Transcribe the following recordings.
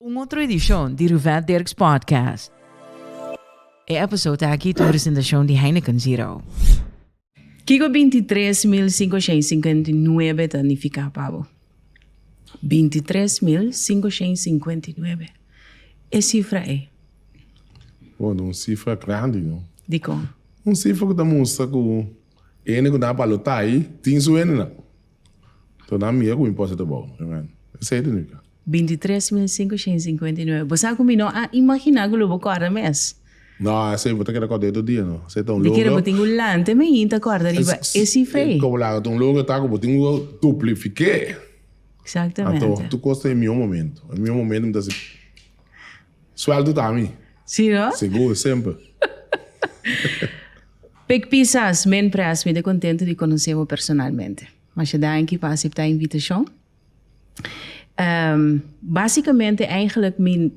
Un otro edishon di Ruvet Dirks Podcast. E episode aki ta un presentashon di Heineken Zero. Kiko binti tres mil sinku shen sinkuenta i nuebe ta nifiká pa bo? Binti tres mil sinku shen sinkuenta i nuebe. E sifra e. Bo, ta un sifra grandi, no? Dikon? Un sifra ku ta mustra ku hende ku ta a balotá tin su hendenan. Tur nan mira ku imposta ta bou. Amen. Esei ta nika. Bintitres mil sinkoshen sinkuenta i nuebe. Bo sa ku mi no a imaginá ku lo bo kòrda mes. No, esei bo ta keda kòrda e tur dia no. Esei ta un logro. Mi kere bo tin ku lante meiin ta kòrda riba e sifra ei. Komo laga ta un logro ta ku bo tin ku duplifiké. Exactamente. Anto tur kos ta e mihó momentu. E mihó momentu mi ta si. Suelto ta mi. Si no? Segur, semper. Pik pisas, men pres, mi ta contento di conoce bo personalmente. Masha danki pa acepta invitacion. Basicamente, eigenlijk mi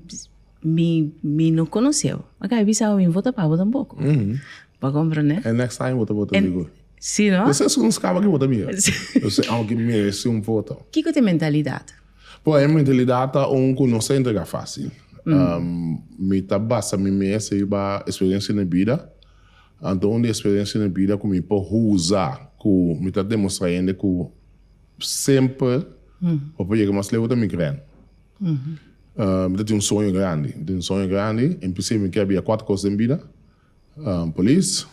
mi mi no conoce bo. Mi ka bisa bo, mi vota pa bo tampoco. Bo a comprende? En next time bo ta vota segur. Si no? Bo ser scunscaba ki vota mi. Aunke mi merece un voto. Kiko ta e mentalidad? Poem en realidad ta un cu no sa entrega facil. Mi ta basa mi mes riba experiencia na bida. Anto un di experiencia na bida cu mi por huza cu mi ta demostra hende cu semper bo por yega mas leu ta mi cren. Mi ta tin un soño grandi, mi ta tin un soño grandi. Empecé mi kier bia cuater cos den bida. Polis,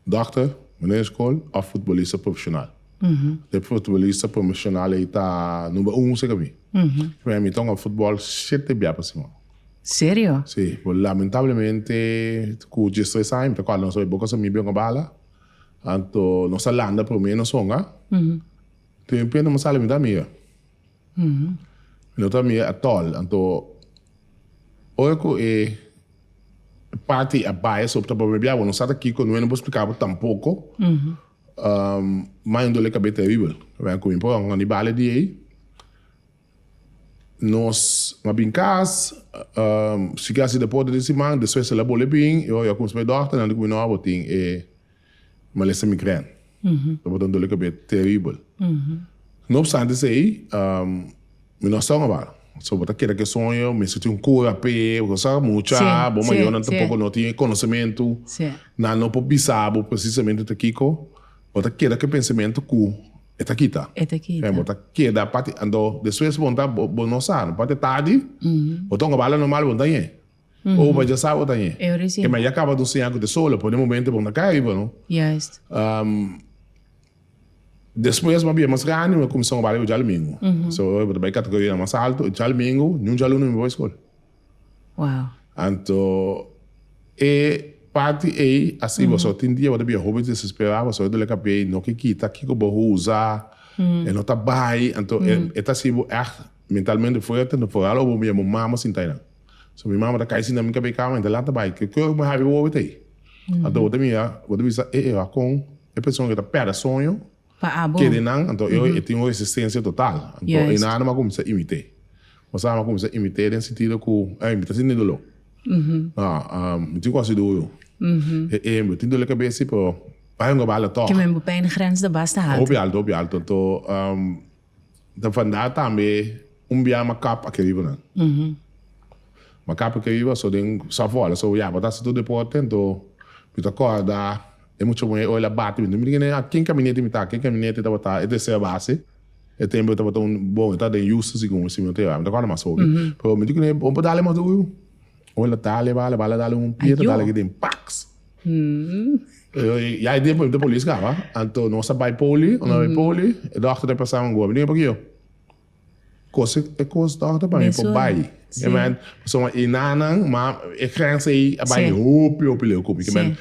dòkter, meneer skol òf futbolista profeshonal. E futbolista profeshonal ei ta number un seker mi. P'e mi ta un futbòl shete bia pa siman. Serio? Sí, pero lamentablemente ku djes tres aña mi ta kòrda nos bai boka sa mi bia un bala. Anto nos ta landa promé nos honga. Tempe no mi sali mi ta mira. Mi no ta mi e atòl, anto ora ku e party a bai esop ta papia biaha, bo no sa ta kiko, no e no por splika bo tampoko. Mai un dole kabes teribel kabia ku mi. Por ejemplo, di bale di ei nos a bin kas, si ke hasi deporte di siman, despues el a bole bin, i ora yo a kuminsá bai dòkternan di ku mi, No, abo tin e. Malesa migrène. Ta bot'an doli kabé teribel. No opstante esei, mi no a son awor. So bo ta keda ku e soño, mester tin un kura p'e. Bo sa mucha, bo mayonan tampoko no tin e konosementu. Nan no por bisa bo presisamente ta kiko. Bo ta keda ku e pensamentu ku e ta kita. Fen, bo ta keda pati. Anto despues bo pregunta, bo no sa no pati e tardi? Bo ta ongabal la normal bo no ta ñe. Oh ma dja sabo ta ñe. E ma ya caba nos siña cu ta sola pone momento bon ta cay riba no. Despues ma bien mas grandi mi a cuminsa trabaha riba djalmingo. So mi ta bay categorianan mas alto y djalmingo ni un djalunnan mi bay school. Anto e parti ey a sibi baso tin dia bo ta bia hopi desespera baso e dole cape y no ke kita kico bo a usa e no ta bay anto e ta sibi bo echt mentalmente fuerte anto foral o bo mama sin ta enan. So mi mama ta kai sinta mi kab'é kama, enta lata bai. Ke oc mi habi bo wawita ei? Anto bo ta mira, bo ta bisa e ewa kon e persona ke ta perde soño kede nan. Anto e oe e tin un resistencia total. Anto e nada mas kuminsá imit'é. Bo sa, mi a kuminsá imit'é den sentido ku ei mi ta sinti doló. Nao, mi tin kos di duo yo. E ei mi tin doli kab'é si, pero bai un gabal a tòg. Kimen bo pèn grens ta basta haltu. Hopi haltu, hopi haltu. Anto. Ta fanda tambe un bia makap aki riba nan. Makap aki riba, so den Savola, so ya, bo ta hasi tur deporte, anto mi ta corda e mucha muhé oil a bati mi. Mi di, aki en Caminete mi ta, aki en Caminete tabata e tercer base, e tempo e tabata un, bon, e ta den Houston si como si mi no ta yora, mi ta corda mas hopi. Pero mi di, bo por dale mas duru, oil a ta leba, leba, la dale un pie, ta dale aki den, pax! Ya e tempo de polis kaba, anto nos a bai poli, nos a bai poli, e dòkter ta pensá un gobi, denga pakiyo? Kos e kos dòkter pa mi por bai. E mei, pasobra e nannan, ma e grens ei a bai hopi, hopi leu ku mi. Ke men,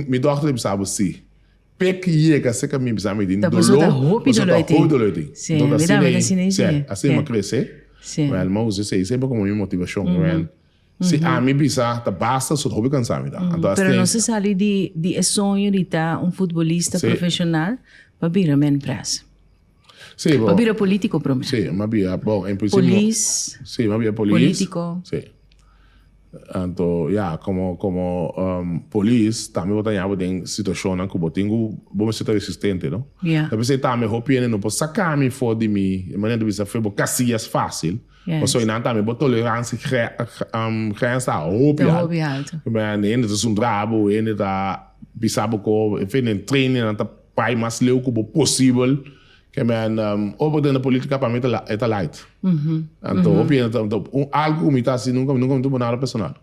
mi dòkter a bisa bo si. Pe ku yega seka mi bisa mi tin doló. Ta pasobra ta hopi doló ei tin. Hopi doló ei tin. Entonces asina ei, asina mi a krese. Wel, mi a usa esei sempre komo mi motivashon. Si ami bisa ta basta sut hopi kansa mi ta. Anto Pero no se sali di e soño di ta un futbolista profesional pa bira men pres. Si bo. Pa bira politico prome. Si ma bira bon en principio. Polis. Si ma bira polis. Politico. Si. Anto ya como como um, polis tambe bo ta yapo den situacionnan cu bo tin cu bo mester ta resistente no. Ya. Ta pensé tambe hopi hende no por saca mi for di mi manera di bisa fe bo casillas facil. Pasobra e nan tambe bo toleransi grensa ta hopi alto. Hende ta suntra bo, hende ta bisa bo ko efecto den trainingnan ta bai mas leu ku bo posibel. Ora bo ta den politica pa mi e ta light. Anto hopi hende ta, algu ku mi ta hasi nunka mi no ta pone nada personal.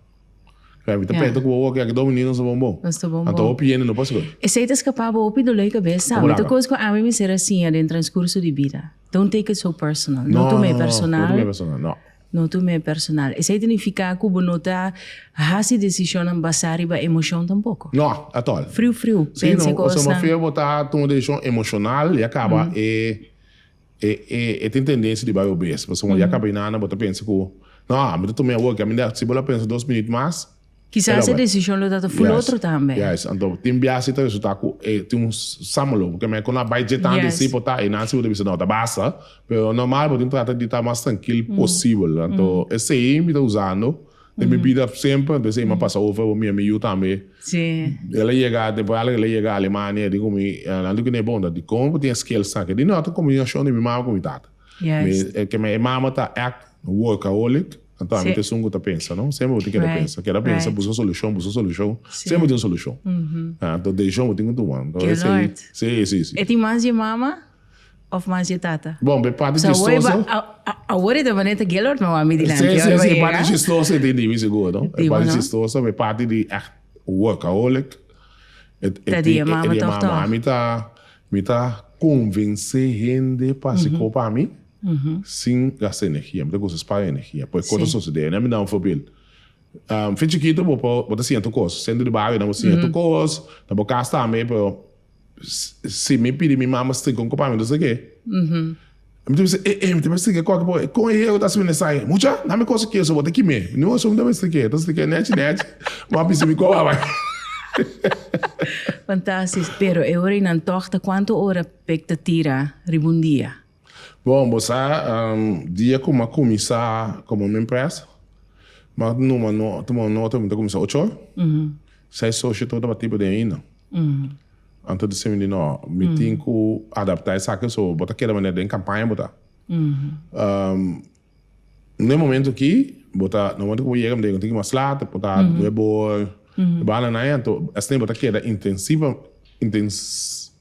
Kaya mi ta penta ku bo wak yaki domi ni nos ta bon bo. Nos ta bon bo. Anto hopi yende no pasa koi. Esei ta skapa bo hopi dolei kabesa. Komo laka? Esta kos ku ami mi ser a siña den transkurso di bida. Don't take it so personal. No tuma e personal. No tuma e personal, no. No tuma e personal. Esei ta nifiká ku bo no ta hasi desishonnan basá riba emoshon tampoko. No, at all. Friu friu. Pensa e kosnan. Si no, ose mafia bo ta tuma desishon emoshonal i a kaba e. E e e tin tendensia di bai obes, pasobra cuando ya caba e nana bo ta pensa cu, No, ami ta tuma e awor, caminda aki. Si bo lo a pensa dos minuut mas, el a Quizás e bai. decision lo ta ta full otro tambe. Yes, anto tin biaha si ta resulta cu e tin un s- samelo, porque me cu no a bai dje tanto Yes. esey por ta, e nan si bo ta bisa no, ta basta, pero normal bo tin trata di ta mas trankil posibel. Anto esey mi ta usando. Den mi bida semper, entonces ey m'a pasa over bo mi, a mi yu tambe. El a yega, tempo alig el a yega Alemania, el di cu mi, Orlando, cu n'e bon ta? Di con bo tin e skills aki? Di no, ta combinacion di mi mama cu mi tata. Mi, kieme e mama ta èct workaholic, anto ami ta esun cu ta pensa, no? Semper bo tin keda pensa, keda pensa, buska solucion, buska solucion, semper tin un solucion. Anto decision bo tin cu tuma. Anto esey, si, si, si. E tin mas dje mama? Of mas dje tata. Bon, bo e papia chistoso. Awor e ta bani ta Gaylord mama mi dilanti. Sí, sí, sí, e papia chistoso e tin di mi sigur, no? E papia chistoso, bo e papia di ècht workaholic. Ta di e mama tòg tòg. Mi ta, mi ta konvensé hende pa siko pa mi sin gasta energia. Mi ta gosa spara energia. Poi kos ta sosodé. Mi duna un forbild. Fin chikitu bo ta sienta kos. Sentru di bario nan bo sienta kos, na bo kas tambe, pero Si mi pidi mi mama strika un kopamentu sa ke? Mi ta bisa, e, e, mi ta mester strika koke pa bo. Kon e Yehova ta hasi mi nesai? Mucha, na mi kosa kieso, bo ta kime. No, so mi ta mester ke, ta strika nechi, nechi. Bo a bisa mi koba bai. Fantastis, pero e ora ei nan tòg ta kuantu ora pek ta tira riba un dia? Bon, bo sa, dia ku mi a kuminsá komo mi empleas, mi a numa no, tuma no otro, mi ta kuminsá ocho or. Seis socio tur tabata tiempo den ainda. Anto di semi di no, mi tin ku adaptá esaki, so bo ta keda manera den kampaña bo ta. N'e momento aki, bo ta, n'e momento ku bo yega, bo ta yega un tiki mas laat, e por ta nuebo e banda na e, anto esei bo ta keda intensivo,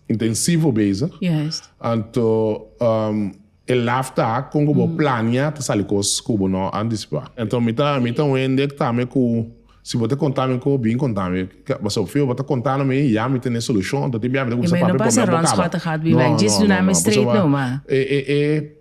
intensivo bezig, anto e laf ta kon ku bo plania ta sali kos ku bo no a antisipa. Anto mi ta, mi ta un hende ku ta me ku si bo ta konta mi ku bin konta mi, pasobra fijo bo ta konta na mi, ya mi tene solushon, anto tin bia mi ta kuminsá papia, mi ta pone bo kaba, no, no, no, no, pasobra e, e, e.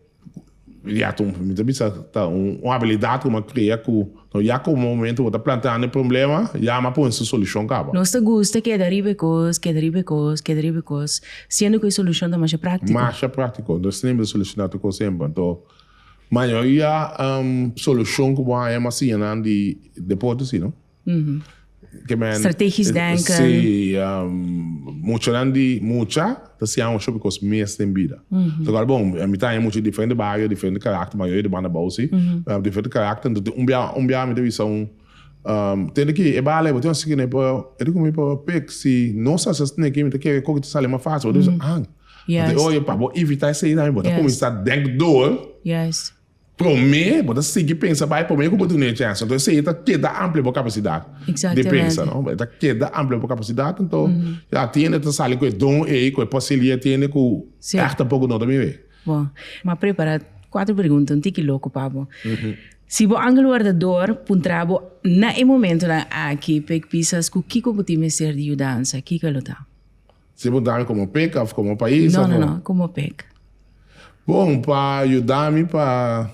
Inmediato mi ta bisa ta un habilidad cu mi a crea cu no ya como momento bo ta planteando e problema, ya mi a pone su solucion caba. Nos ta gusta keda riba e cos, keda riba e cos, keda riba e cos, siendo cu e solucion ta masha practico. Masha practico, no es simpel soluciona tur cos hember. Anto, mayoria solucion cu bo haña mas siña nan di deporte, si no? Strategisch denken. Sí, muchanan di mucha ta siña un hopi cos mes den bida. Ta kal bon, mi ta haña mucha di diferente bario, diferente karakter, mayoria di banda bou sí, diferente karakter. Enton tin un bia, un bia mi ta bisa un, tende ki e bala ei bo tin asina ki nei pa e di kume pa pek si no sa asina nei ki mi ta kere koki ta sali mas fácil. Bo ta bisa ang. Bo ta oye pa bo evitá esei tambe. Bo ta kuminsá dèk dor. Promé bo ta sigui pensa bai promé ku bo duna e chèns. Anto esei e ta keda amplia bo kapasidat di pensa. E ta keda amplia bo kapasidat. Anto e atiende, e ta sali ku e don ei, ku e pasillo ei atiende ku ègt ta poku nota bibé. Bo a prepará kuater pregunta, un tiki loko pa bo. Si bo angel wardador puntra bo na e momentunan aki, p'e kisas ku kiko bo tin mester di yudansa, kiko lo ta? Si bo dami komo pek of komo pais of. No no no komo pek. Bon pa yuda mi pa.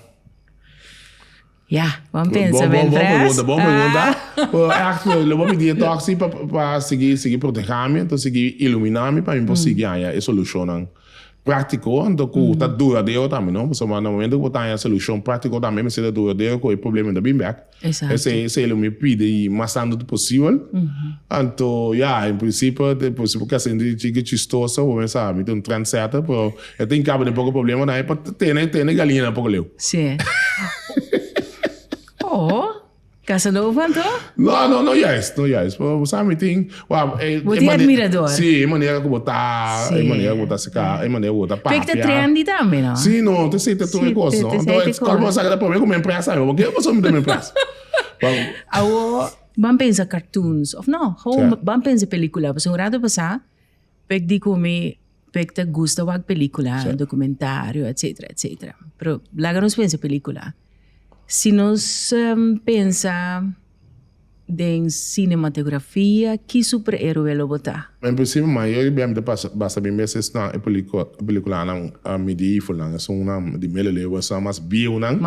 Ya bon pensa mi entre us. Bon pregunta bon pregunta lo bo pidi e toksi pa sigi sigi proteha mi enton sigi ilumina mi pa mi por sigi haña e solushonnan praktiko anto ku ta duradero tambe no pasobra na momento ku bo ta haña solushon praktiko tambe mester ta duradero ku e problemen ta bin bek. Esaki. Esei lo mi pide y mas anto posibel. Anto ya, en principio ta posible casi un chique chistoso, bo mester sabe, mi ta un trendsetter, pero e tin caba den poco problemanan ahí pa tene, tene galiñanan poco leu. Sí. Oh, Casanova anto? No, no, no juist, no juist, pero bo sabe mi tin. Wauw, e manera. Bo tin admirador. Sí, e manera ku bo ta, e manera ku bo ta sika, e manera ku bo ta papia. P'e ki ta trendy tambe, no? Sí, no, ta esei ta tur e kos, no. Entonces, e kos ku bo ta saka ta promé ku mi a impresa mi. Bo kier pasobra mi ta mi impresa. Awor ban pensa cartoons, òf no, ban pensa pelikula. Pasobra un ratu pasá, p'e ki di ku mi. P'e ta gusta wak pelikula, dokumentario etcetera etcetera pero laga nos pensa pelikula si nos pensa den sinematografia ki super eroe lo bo ta? En principio mayor di bem ta basta bin mester sna e pelikulanan medievalnan esun nan di middeleeuwen esnan mas bieunan,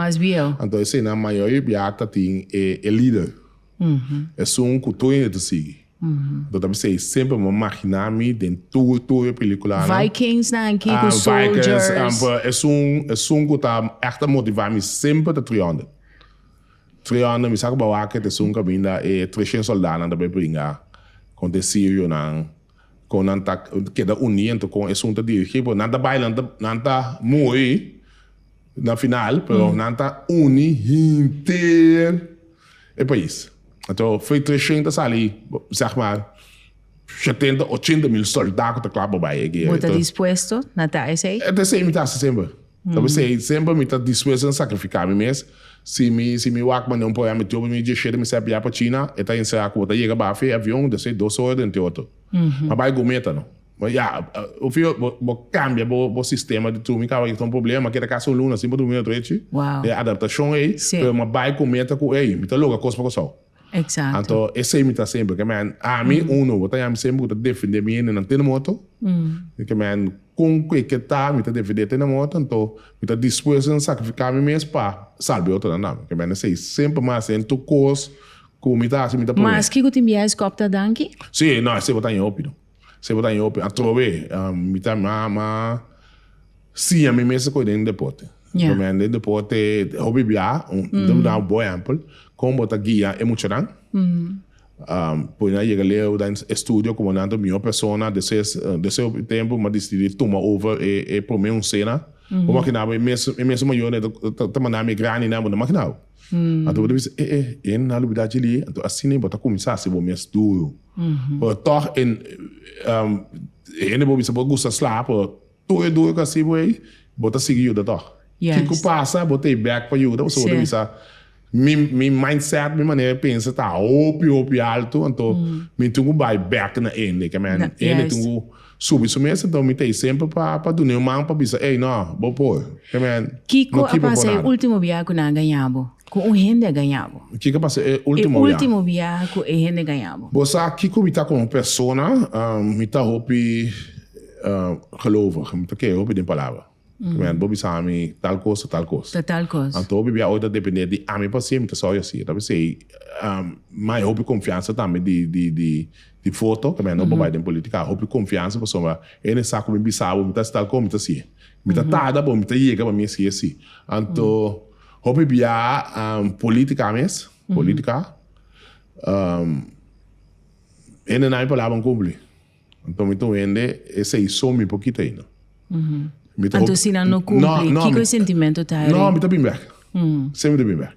anto eseinan mayor di biaha ta tin e lider Esun cu tur hende ta sigui. Bo ta bisa ei semper bo magina mi den tur tur e peliculanan. Vikings nan aki cu soldiers. Vikings amper esun esun cu ta echt a motiva mi semper ta 300. 300 mi sa cu bo a wak te esun caminda e treshent soldanan ta bay pringa con te sirionan con nan ta keda uni ento con esun ta dirigi por nan ta bay nan ta nan ta muri. Na final, pero nan ta uni hinter e pais. Anto Fredrichshaehn ta sali, zeg maar, shetenta, ochenta mil soldá ku ta kla pa bai e guera. Bo ta dispuesto na ta esei? E ta esei mi ta hasi semper. Ta p'esei semper mi ta dispuesto na sakrifiká mi mes. Si mi si mi wak manda un programa mi trobe mi djeshete mi sèp ya pa China, e ta enserá ku bo ta yega baf'e avion, despues dos ora den t'e otro. Ma bai Gometa no. Bo ya bo fijo bo cambia bo sistema di durmi caba yeta un problema keda casa un luna sin bo durmi otro echi e adaptacion ey pero mi a bay cu mi ta cu ey mi ta loga cos pa Cusau anto esey mi ta haci siempre kemen ami uno bo ta yami siempre cu ta defende mi hende nan te nan moto kemen con ke ke ta mi ta defende te nan moto anto mi ta dispuesto di sacrifica mi mes pa salba e otronan tambe kemen esey siempre mi a haci en tur cos cu mi ta haci mi ta pone maski cu tin biaha e scop ta danki? Si no esey bo ta haña hopi no. Se bo ta haña hopi atrobe, mi ta ama siña mi mes koe den deporte. Lo mi a haña den deporte, hopi bia, ta duna bo un bon ehèmpel, kon bo ta guia e muchanan, pone nan yega lei oda e estudio ku bo nan ta un mihó persona, despues den se hopi tempu bo a disidí tuma over e promé onsena, bo makinabo e mes mayonan ta mandá mi e grandinan, bo no makinabo. Anto bo ta bisa, eh eh, e na lubida djili, anto asina bo ta kuminsá hasi bo mes duru. Pero tòg e hende bo bisa bo gusta slaap, pero tur e duru ku a hasi bo ei, bo ta sigui yuda tòg. Kiko pasa, bo ta e bèk pa yuda pasobra bo ta bisa, mi mi mindset, mi manera di pensa ta hopi hopi altu, anto mi tin ku bai bèk na hende. Ke men, hende tin ku. Subi su mes, enton mi ta i semper pa duna un man pa bisa, Ey, no, bo por, e men no ki pa bo nada. Kiko a pasa e ultimo biaha ku nan a gaña bo, ku un hende a gaña bo? Kiko a pasa e ultimo biaha? E ultimo biaha ku e hende a gaña bo? Bo sa kiko mi ta komo persona? Mi ta hopi gelovig, mi ta kere hopi den Palabra. Primeramente bo bisa ami tal cos ta tal cos. Ta tal cos. Anto hopi bia oy ta depender di ami pa siempre ta sa oy asi. Ta bisa ey mai hopi confiansa tambe di di di di foto caminda no bo bay den politica a hopi confiansa pasobra ey no esa cu mi bisa bo mi ta haci tal cos mi ta haci e. Mi ta tarda bo mi ta yega pa mi haci e si. Anto hopi bia politica mes politica ey no na mi palabra cumpli. Anto mi ta un hende esei so mi por kita eino. Mi ta Anto hopi- si nan no cumpli, No, no, kiko e mi- sentimento ta No, mi eri? ta bin bek. Sem mi ta bin bek.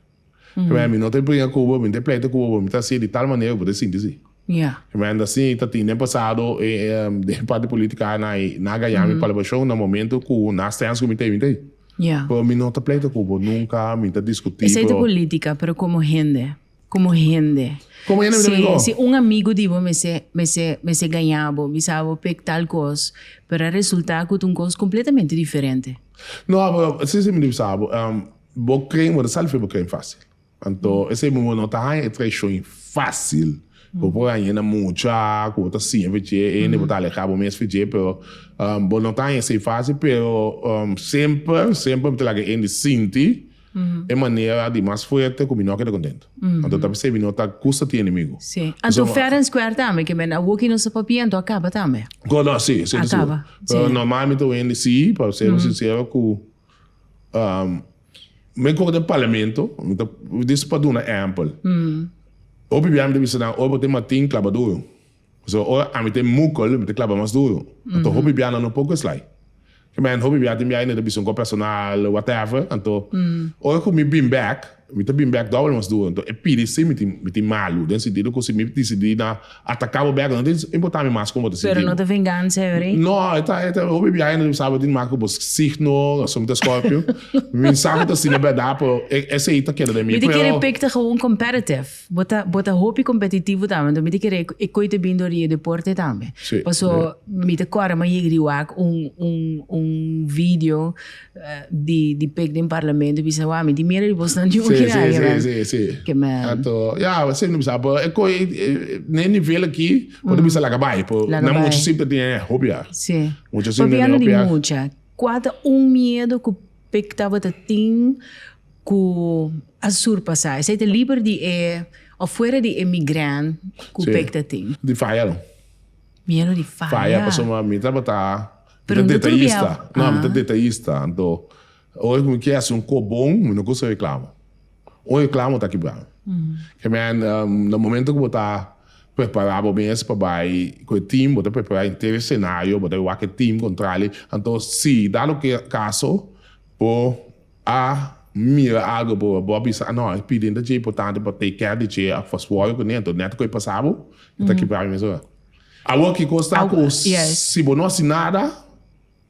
Keme mi no ta pring a Cuba, mi no ta pleito Cuba, pero mi ta haci'e di tal manera cu bo ta sinti si. Ya. Keme anda si ta tin den pasado e e den e parti politica a nan ei nan a gaña mi palpacion na momento cu nan a stens cu mi ta ei mi ta ei. Ya. Pero mi no ta pleito cu bo nunca, mi ta discuti Esei ta pero politica, pero como hende? Como hende. Como hende mi ta bin go. Si un amigo di bo mester mester mester gaña bo, bisa bo pek tal cos, pero a resulta cu ta un cos completamente diferente. No, si si mi ta bisa bo, bo crein bo ta salva bo crein facil. Anto esey mi bo no ta haña e traicion facil cu bo por haña na mucha, cu bo ta siña fe dje hende, bo ta alegra bo mes fe dje, pero bo no ta haña esey facil, pero semper semper mi ta laga e hende sinti e manera di mas fuerte ku mi no a keda kontentu. Anto ta p'esei mi no ta gusta tin enemigu. Sí. Anto fair and square tambe ke men a woki nos a papia anto a kaba tambe. Ko no, sí, sí ta sigur. Pero normalmente wendi sí, pa sero sinsero ku men koko den parlamento, mi ta, dis pa duna ampel. Hopi bia mi ta bisa nan, oi bo tin matin klaba duru. Pasobra ora ami ta e mukkel, mi ta klaba mas duru. Anto hopi biaha nan un poko eslai. Ke mehent hopi biaha tin biaha yende ta bisa un kos personal, whatever. Anto ora ku mi bin bek, mi ta bin bek dobel mas duru. Anto e pidi si mi tin mi tin malu, den sentido ku si mi disidi na ataka bo bek, lo no ta importa mi mas kuma bo ta sinti bo. Pero no ta vengansa e ori? No, e ta e ta hopi biaha yende ta bisa bo tin marka ku bo signo, pasobra mi ta Scorpio. Mi bin sa ku ta asina berdad, pero e esei ta keda den mi. Mi ta kere pik ta gawun competitive. Bo ta bo ta hopi competitivo tambe anto mi ta kere e koe ta bin dor di e deporte tambe paso mi ta kore ma yeg di wak un un un video di di pek den parlamento bisa wak mi di mira di boso nan yunki nan aki nan si si si anto ya esei mi ta bisa e koe na e nivel aki bo ta bisa laga bai po nan mucha simplemente hopiar mucha simplemente hopiar si papi ando di mucha kua ta un miedo ku. Pe tabata tin ku a surpasá esei ta liber di e òf fuera di e migrèn ku pe ta tin. Di faya no. Miedo di faya. Faya pasobra mi mi tabata mi ta detayista no mi ta detayista anto oe ku mi ke hasi un kop bon mi no kusa reklama. Un reklamo ta kibra. K'e men na momento ku bo ta prepará bo mes pa bai ku e tim, bo ta prepará henter e senario, bo ta wak e tim kontral ei. Anto si dado kaso bo a mira algu, bo a bisa, no, e piden ta dje importante pa take care di dje òf pa swòger kuné, anto nèt ku e pasá bo, e ta kibra mes ora. Awor ki kos ta ku si bo no hasi nada?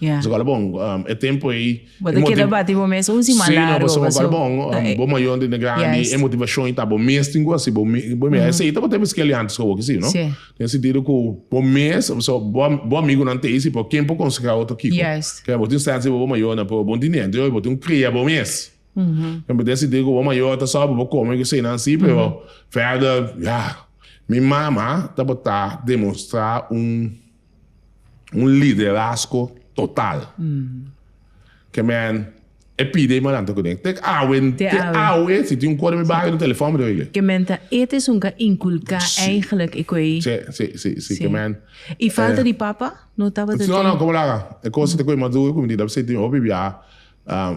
Ya. Bo ta kala bon. E tempu ei. Bo ta keda bati bo mes un siman largu. Si, no pasobra bo kal bon. Bo mayor dende grandi, e motivacion ei ta bo mes tin ku hasi. Bo mes, bo mes. Esei ta bo ta habi skeli antes ku awoke, si no? Si. Den e sentido ku bo mes, pasobra bo, bo amigunan ta hasi, pero ken por konsehá otro kiko? Yes. Kila bo tin sensa ku bo mayornan por bo ntindi. Anto bo tin krea bo mes. Den e sentido ku bo mayor ta sòp bo kome ku eseinan asi, pero verder, ya. Mi mama tabata demonstrá un. un liderazgo total ke men e pide malanta ku den te awe te awe si tin un kore mi bario telefon mi ta ringi ke men ta et es un ka inkulka eigenlijk e koe si si si si ke men i falta di papa no tabata tin no no komo laga e kos te koe maduro ku mi di dab sinti hopi bia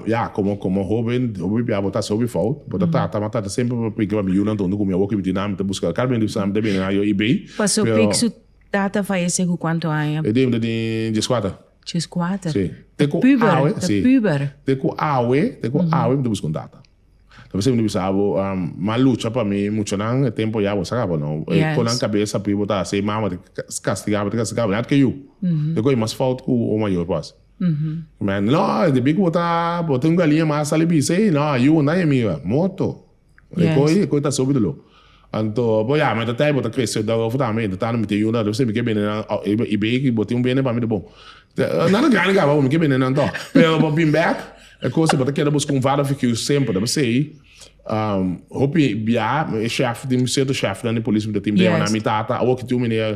ya komo komo hoben hopi bia bo ta hasi hopi fout bo ta trata ma trata semper pa priki pa mi yunan tondo ku mi a woki mi di nan mi ta buska kal mi di sa mi ta bini na yo i bei paso pik su Tata fayesé ku kuantu aña? E debida den djeskuater. Djeskuater? Sí. Ta puber, ta puber. Te ku awe, te ku awe mi ta buska un tata. Ta p'esei mi ta bisa abo, m'a lucha pa mi, muchanan e tempo ya bo sa kaba no. E kon nan kabesa p'e bo ta hasi, mama ta kastigaba, ta kastigaba, mi a ke yu. Te ku e mas fout ku un mayor por hasi. Mi a, no, debí ku bo ta, bo tin un galiña mas a sali bisa ei, no, a yu bo nan e miga. Moto. E koi, e koi ta subi lo. Anto, bo ya, mi ta tei bo ta krese ta ofo tambe, ta tando mi ke yuna, lo siempre mi ke bini nan, oh, i bay ki bo tin un bini pa mi ta bon. Nada grandi kaba bo, mi ke bini nan to. Pero bo bin bek, e kos ei bo ta keda busca un vader figuur siempre, ta pasey, um, hopi bia, e shèf, tin cierto shèfnan di polis ku ta tin bema na mi tata, awor ki tin un meneer.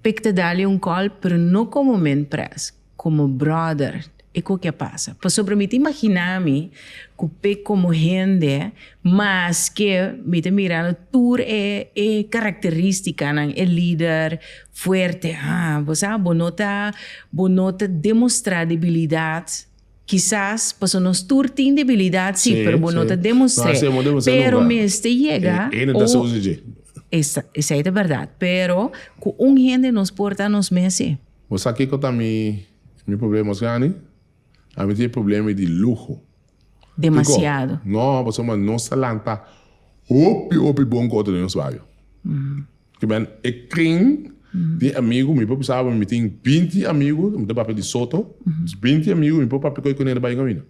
Pik ta dali un kòl pero no komo men pres, komo bròder e ku ke pasa. Pasobra mi ta imaginá mi ku Pik komo hende maske mi ta mirando tur e e karakterístikanan, e lider fuerte, ha bo sa bo no ta bo no ta demostrá debilidat. Kisas paso nos tur tin debilidad si, pero bo no ta demostr'é. Pero mester yega un. Esei ta berdad, pero cu un hende nos por ta nos mes si. Bo sa kico ta mi mi problema mas grandi? Ami tin e problema di luho. Demasiado. Kico? No, pasobra nos ta lanta hopi hopi bon cu otro den nos bario. Ke men e kring di amigu, mi por pensaba mi tin binti amigu, mi ta papia di soto, binti amigu mi por papia ku e kune na bai kaminda.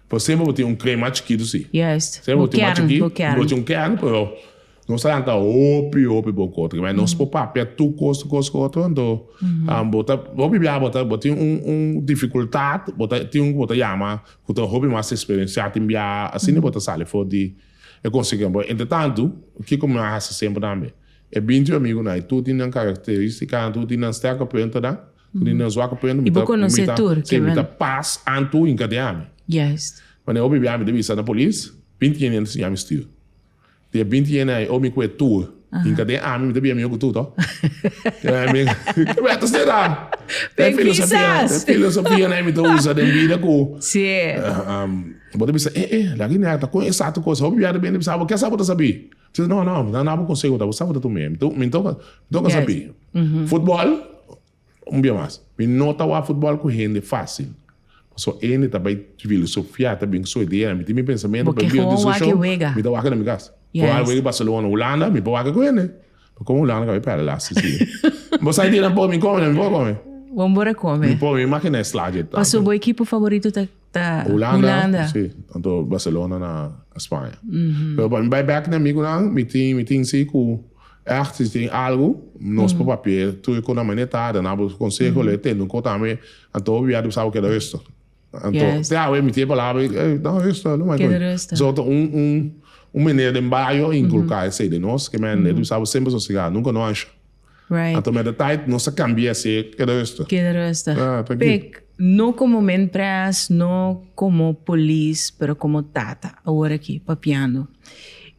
Pero semper bo tin un kring mas chikitu si. Yes. Semper bo tin mas chikit, bo kern, bo kern. Bo tin un kern pero nos ta lanta hopi, hopi bo ku otro. Kemen nos por papia tur kos, kos ku otro anto bo ta, hopi bia bo ta, bo tin un, un difikultat, bo ta tin un ku bo ta yama ku ta hopi mas eksperensiá tin bia, asina bo ta sali for di. E konsegui nan. Pero entre tantu, kiko mi a hasi semper tambe? E binti amigunan ei, tur tin nan karakteristicanan, tur tin nan sterke puntonan, tur tin nan zwakke punto. I bo konosé tur, Kevin? Si, mi ta pas antu hinka di ami. Juist. Wanneer hopi bia mi ta bisa na polis, binti yende nan ta siña mi stuur. Di e binti yende ei, hopi mi kue tur hinka den ami, mi ta bia mi hopi tur, to? Kebèr ta será e filosofia ei mi ta usa den bida ku. Bo ta bisa, E, e, laki nèk ta kon esatu kos. Hopi biaha ta bini bisa, Bo kiasa bo ta sabi? Mi ta bisa, No, no, mi ta na bo konseho ta, bo sa bo ta tuma. Mi ta, mi toka, mi toka sabi. Futbòl, un bia mas. Mi no ta wak futbòl ku hende fásil. Pasobra e hende ta bai filosofiá, ta bin ku su idea. Mi tin mi pensamentu, mi ta wak e na mi kas. Bo wak e wega i Barcelona, Hulanda, mi por wak e ku hende. Mi komo Hulanda kabai pèrdè las i si. Bo sa idea na por mi kome, na mi por kome. Mi por, mi imaginá e slagje. Pasobra bo ekipo favorito ta? Ta Hulanda. Sí, anto Barcelona na Spaña. Pero pa mi bai bek na amigunan, mi tin, mi tin si ku ècht si tin algu, nos por papia tur e konamento e ta, duna bo konseho, lo e tende un ko tambe, anto bo biaha sa bo keda ruster. Anto, te awe mi tin e palabra, ey, duna ruster, lo mai koe. Keda ruster. Bosor ta un, un, un manera den bario inkulká esei den nos, ke men e debe sa bo semper sosigá, nunka no ansha. Right. Ato met de tijd, nos a cambia ese keda rustig. Keda rustig. Ah, tranquilo. Pek, no como menpres, no como polis, pero como tata awor aki papiando.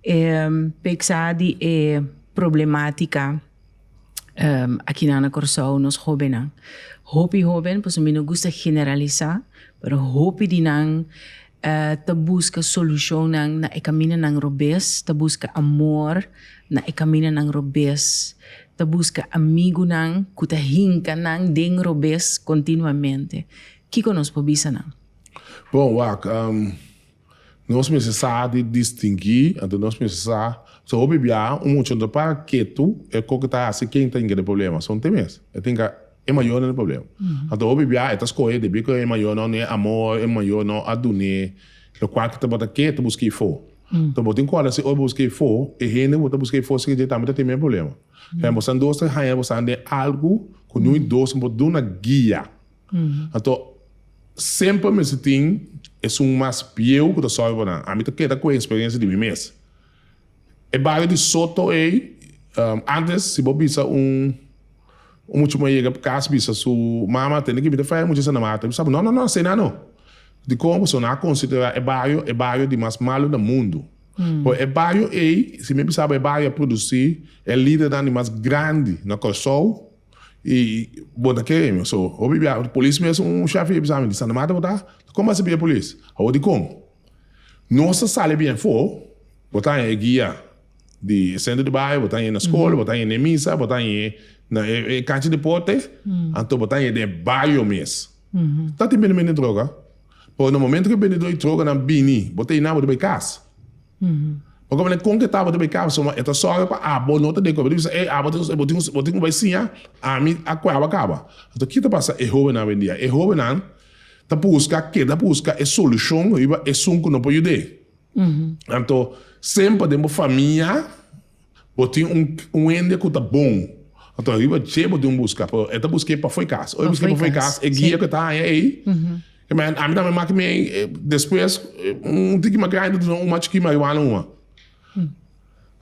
Um, pek sa di e problematica um, akinan na Corsou, nos hobennan. Hopi hoben, paso mi no gusta generalisa, pero hopi di nan ta buska solucionnan na e caminanan robes, ta buska amor na e caminanan robes, ta buska amigunan cu ta hinca nan den robes continuamente. Kico nos por bisa nan? Bon, wak, nos mester sa di distingui, anto nos mester sa, so hopi biaha un muchanan ta para ketu, e koko ta haci, ken ta hinca den problemas? Son te mes, e tin ca. E mayor no ta problem. Anto hopi biaha e ta scohe debi cu e mayor no e amor, e mayor no a dune locual cu tabata ke ta busca efo. Entonces bo tin corda si ora bo busca efo, e hende cu bo ta busca efo sigue dje tambe ta tin mey problema. Fen, bo stan dos, tres hanja bo stan den algo cu no e dos no por duna guia. Anto semper mester tin esun mas bieu cu ta solve bo nan. Ami ta keda cu e experiencia di mi mes. E bario di Soto ey, antes si bo bisa un un mucha moe yega pa cas bisa su mama tende ki mita faya mucha esa na mata, bo sabi no no no asina no. Dicon? Pasobra nan a considera e bario e bario di mas malo na mundo. Por e bario ey, si mi a bisa bo e bario a produci e lidernan di mas grandi na Corsou y bo na kere mi. So, hopi bia polis mes un shef ey a bisa mi di Santa Marta bo ta? Dicon bo a sibi e polis? Awo dicon? Nos ta sali bia afó, bo ta haña e guia di e sentro di bai, bo ta haña e na skol, bo ta haña e na e misa, bo ta haña e na e kancha deporte, anto bo ta haña e den e baio mes. Ta tin bendementu den troka, pero na momento ku e bendedó di trokanan bini, bo ta yina bo ta bai kas. Pa kaba nan e kon ke ta bo ta bai kas, pasobra e ta sòru pa abo no ta den ku abo, e ta bisa, ey, abo tin, bo tin ku bai siña, ami a kueba kaba. Anto, kiko ta pasa? E hóbennan awendia, e hóbennan. Ta busca keda busca e solucion riba esun cu no por yud'e. Anto, semper den bo famia bo tin un un hende cu ta bon. Anto riba dje bo tin un busca, pero e ta busc'e pafo'i cas. Ora e busc'e pafo'i cas, e guia cu e ta haya ei, e manda, ami tambe a maki mei, despues un tiki mas grandi ta duna un mas chiki marihuana huma.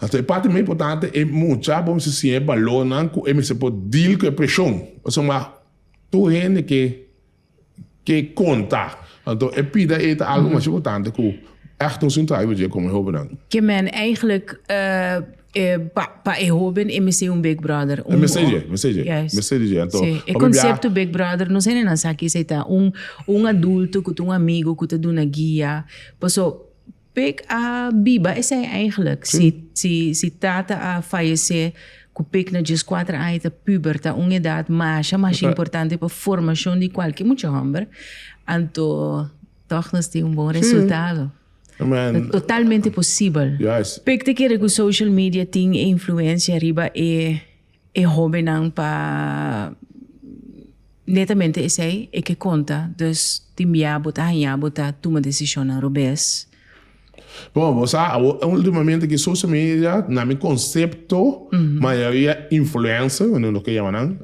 Anto e parti mas importante e mucha bo mester siña e balornan cu e mester por deal cu e presion. Pasobra Tur hende ke ke konta. Anto e pida ei ta algu masha importante ku ègt un sin trayu bo dje kon e hobennan. Ke men eigentlik pa pa e hoben e mester un big brother? E mester dje, mester dje, mester di dje. Anto pasobra bia. E konsepto big brother no sende nan sa ki esei ta un un adulto ku ta un amigu ku ta duna guia. Paso. Pek a biba esei eigenlijk. Si si si tata a fayesé ku pek na djes kuater aña e ta puber, ta un edat masha masha importante pa formashon di kualke mucha hòmber, anto tòg nos tin un bon resultado. Ta totalmente posibel. Pek ta kere ku social media tin e influensia riba e e hobennan pa netamente esei e ke konta, dus tin bia bo ta hañá bo ta tuma desishonnan robes. Bon, bo sa, awo ultimamente ki social media, na mi konsepto, mayoria influencer, loke yama nan,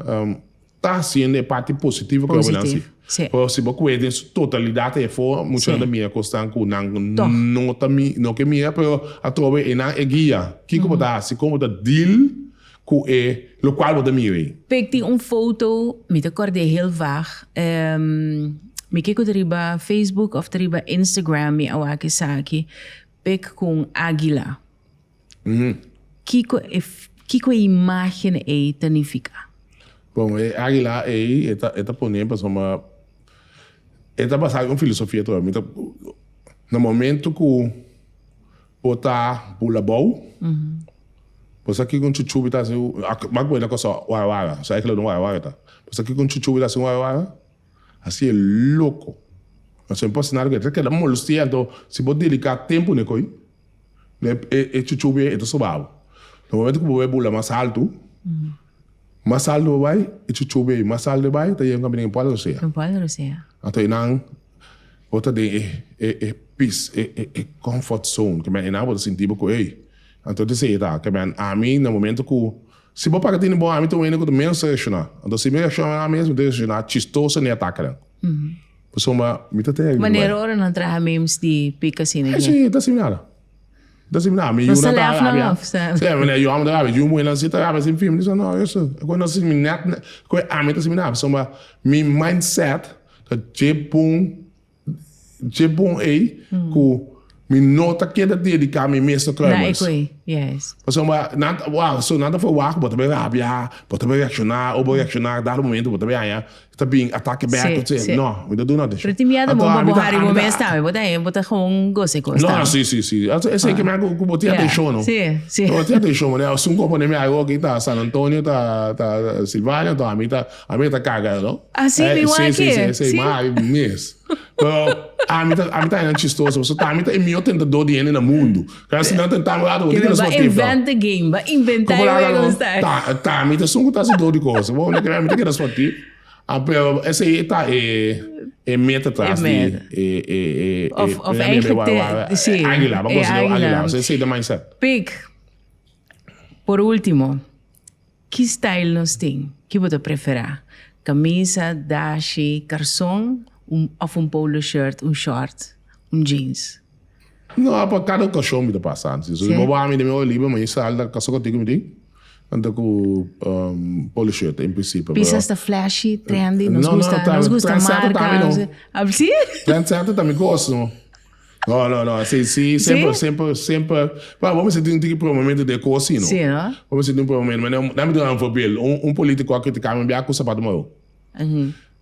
ta haciendo e parti positivo cu hombrenan haci. Pero si bo cuenta en su totalidad ahí afo, muchanan ta mira cosnan cu nan no ke mira, pero atrobe enan e guia kico bo ta haci, como bo ta deal cu e locual bo ta mira ahí. Pek tin un foto, mi ta cord'e heel vag, mi kico ta riba Facebook of ta riba Instagram mi a wak esaki, Pek cu un aguila. Kiko e imágen ei ta nifiká? Bon, e águila ei e ta e ta poné pasobra e ta basá den un filosofia tur. Mi ta na momento ku bo ta bula abou, bo sa kiko un chuchubi ta hasi mi a kuenta kos wara wara, so águila no wara wara ta. Bo sa kiko un chuchubi ta hasi wara wara? A siña loko. Pasobra bo a sinal ku e ta keda molostia. Anto si bo dediká tempu na e koi. E e chuchu bien e ta soba bo. Na momento cu bo bai bula mas alto, mas alto bo bai, e chuchu bien mas alto e bai, ta yega un caminda den Puerto Rosea. Den Puerto Rosea. Anto e nan bo ta den e e e pis, e e e comfort zone, ke men e nan bo ta sinti bo cu ey, anto ta esey ta. Kemen ami na momento cu, si bo para tini bo, ami ta un hende cu ta menos reacciona. Anto si mi reacciona na mesmo, mi ta reacciona chistoso na e atakenan. Pasobra ma mi ta tene riba. Manera ora nan traha memes di pika asina He dje. ta similar. Ta similar. Mi yunan ta rabia. No sa lef nan of. Sa mi yunan ta rabia. Yu muhernan si ta rabia sin fin. Mi di so no eso. Cu no si mi net net. Cu ami ta similar. Pasobra mi mindset ta dje pun dje pun ey cu mi no ta keda dedica mi mes na traiba eso. Na ecu ey. Yes. Pasobra nan ta wak. So nan ta verwacht cu bo ta bay rabia. Bo ta bay reacciona. Ora bo reacciona dado momento bo ta bay haña Ta bin atake bek ta tsé. No, mi ta duna attention. Pero tin miedo bo pa bo hari bo mes tambe. Bo ta hen, bo ta gewoon goce cos tambe. No, si, si, si. Esey ke mi a cu bo tin attention, no? Si, si. Bo tin attention, mane asun cu a pone mi ayo aki ta San Antonio, ta Silvania, enton ami ta, ami e ta caga el, no? Así mi wan aki? Si, si, si. Esey mari mes. Pero ami ta, ami ta haña chistoso pasobra ami ta e miyor tentador di hende na mundo. Kasi nan ta un tami lado bo, kiko lo su motivo? Bo a inventa game, bo a inventa e wego esei. Kiko lo a lo? Tami ta sun ku ta hasi dor di kosa, bo unda keda mi ta keda su motivo? Ampeo esei ta e meta tras di e aguila, bo a konsi leu aguila, esei ta mindset. Pik, por ultimo. Ki style nos tin? Ki bo ta prefera? Camisa, dashi, carson of un polo shirt, un short, un jeans? No, a pa cada ocasion mi ta pasa antes. Si bo bami den mi oe libre maña sal ta casa contigo mi tin anta cu polo shirt en principio. Pisas ta flashy, trendy, nos gusta, nos gusta marca. Trendsetter ta mi no. Trendsetter ta mi gozo. No no no si si semper semper semper pa bo mester tin tin ki prueba momento den koos si no si no bo mester tin prueba momento mane dame ta un voorbeeld un un politico a critica mi bia ku sapato maru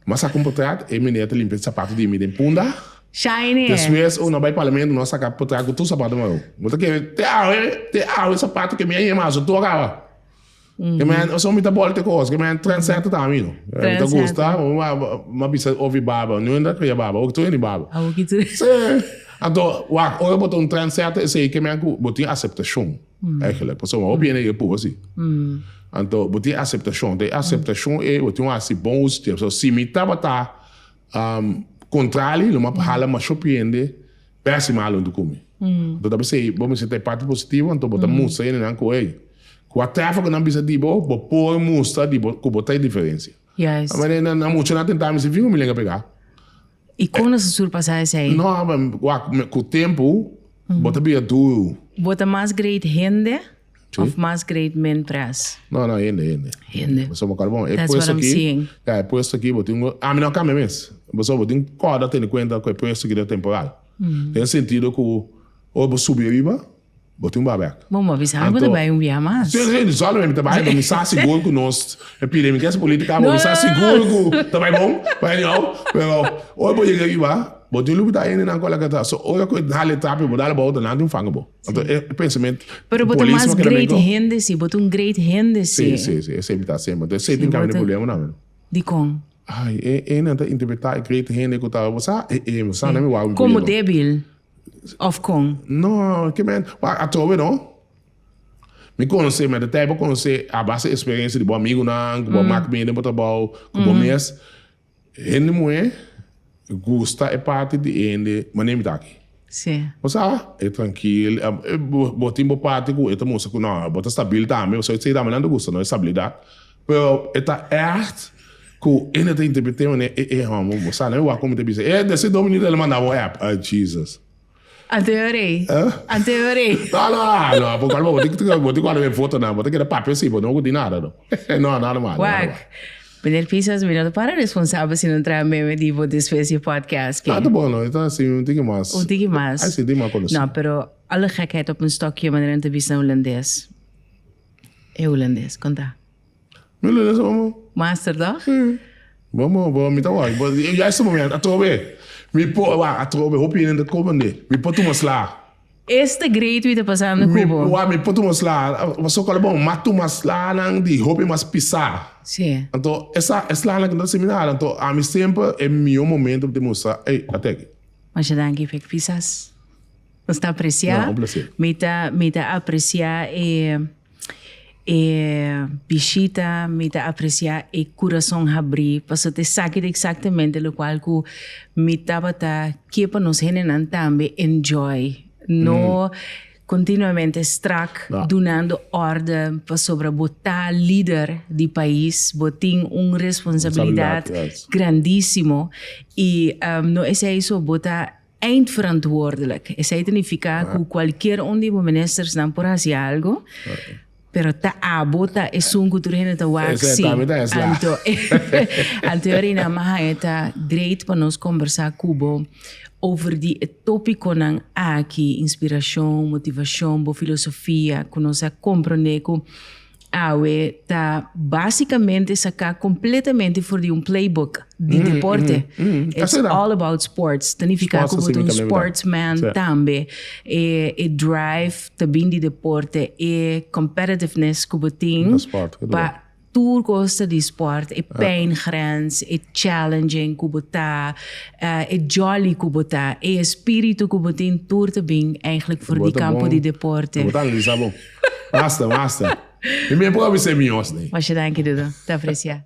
ma saka un potret e meneer ta limpia sapato di mi den punda shiny despues un a bai parlamento un a saka potret ku tur sapato maru bo ta kere te awe te awe sapato ke mi a yema aso tur a kaba. Ke men o so mi ta bolte kos, ke men trendsetter ta mi no. Mi ta gusta, ma bisa ofi baba, no inda kria baba, oki tur ini baba. Oki tur. Si, anto wak, ora bo ta un trendsetter esei ke men ku bo tin aseptashon eigenlijk. Pasobra un hopi hende ke puru si. Anto bo tin aseptashon, te aseptashon ei bo tin wak hasi bon uso dje. So si mi tabata kontrali lo mi a hala masho hopi hende. Pésima alo un tucumi. Bo ta bisa ei bo mester ta e parti positivo anto bo ta mustra enenan cu ei. Cua tèfora cu nan bisa di bo, bo por mustra di bo cu bo ta e diferencia. Manera nan a mucha nan tenta mester fin familia engepe ka. I con nos a surpasa esei? No, cua cu tempo bo ta bira duru. Bo ta mas great hende? Of mas great men pres. No no hende hende. Hende. Bo sobo karbon. E puesto ki. Ya e puesto ki bo tin go. A mi no a kambia mes. Bo sobo bo tin koda tene kuenta ku e puesto ki ta temporal. Den sentido ku ora bo subi ariba bo tin ba bek. Bo mi a bisa mi bo ta bai un biaha mas. Si si si solo mi ta bai mi sa sigur ku nos e pide mi kese politika bo mi sa sigur ku ta bai bon pa anyhow pero ora bo yega ariba bo tin lubita hendenan ku a laga atrás. So ora ku e dal e trapi bo dal e bou nan tin fanga bo. Anto e pensament Pero bo ta populismo mas que great también go- hende si, bo ta un great hende si. Sí, sí, sí, e siempre ta siempre. Entonces, Sí, siempre cambia de bote- problema na men. Di con? Ay, e e nan ta interpreta e great hende ku ta, sa, e e, sa na mi wou in Como gobierno. débil? Of con? No, que men, wa a tobe no. Mi conoce, men de tijd bo conoce a base experiencia di bo amigo nan, ku bo mak mene bo ta bou, ku bo mes. Hende muhé gusta e parti di hende mané mi ta aki. Sí. Bo sa, e trankil, e, bo, bo tin bo parti ku e ta mustra ku no, bo ta stabil tambe, bo sa ese tambe nan ta gusta no, e stabilidat. Pero e ta ègt ku hende ta interpret'é mané, e, e, hòmber, bo sa, nan e wak ku mi ta bisa, e, desde Dominica el a manda bo app, a, Jesus. Anteorei. Anteorei. No, no, ah, no, por cual bo te bo te cual me foto na, bo te queda papel si bo no di nada no. No, nada más. Wak. Meneer Pisas, mi no para responsable si no trae meme di bo después di podcast. Ah, ta bon no, ta si un tiki más. Un tiki más. Ay si di más conoci. No, pero alle gekheid op een stokje manera no te bisa holandés. E holandés, conta. Mi lo lesa mama. Master toch? Mama, bo mi ta wak bo. E juiste momento atrobe mi por wak atrobe hopi hende ta koba nde mi por tuma sla. Este great wi ta pasando cu bo. Mi wak mi por tuma sla pasobra cual e bon mas tuma slanan di hopi mas pisa. Si. Anto esa e slanan cu no ta hasi mi nada anto ami semper e mihor momento pa tin mustra ey a teki. Masha danki Vic Fisas. Nos ta aprecia. No, un placer. Mi ta, mi ta aprecia e, e bishita, mi ta aprecia e curason habri, paso te saki di exactamente lo cual cu mi tabata kier pa nos hendenan tambe enjoy, no mm. continuamente strak no. dunando orden pasobra bo ta líder di país, bo tin un responsabilidad grandísimo y um, no es eso, bo ta eindverantwoordelijk. Esei ta nifiká ku kualkier un di bo ministersnan por hasi algu, pero ta abo ta esun ku tur hende ta wak sí. Anto, anto e a reina Maha e ta greit pa nos kombersá ku bo over di e topikonan aki, inspirashon, motivashon, bo filosofia, ku nos a komprondé ku Awe ta básicamente sacá completamente for di un playbook di deporte. It's all about sports. Ta nifica cu bo un sportsman tambe. E, e drive ta bin di deporte, e competitiveness cu bo tin pa tur cosa di sport, e pijngrens, e challenging cu bo ta, e jolly cu bo ta, e espiritu cu bo tin tur ta bin eigenlijk for di campo di deporte. Masta, masta. Mi mei por a bisa e mios nei. Masha danki Dudu. Ta aprecia.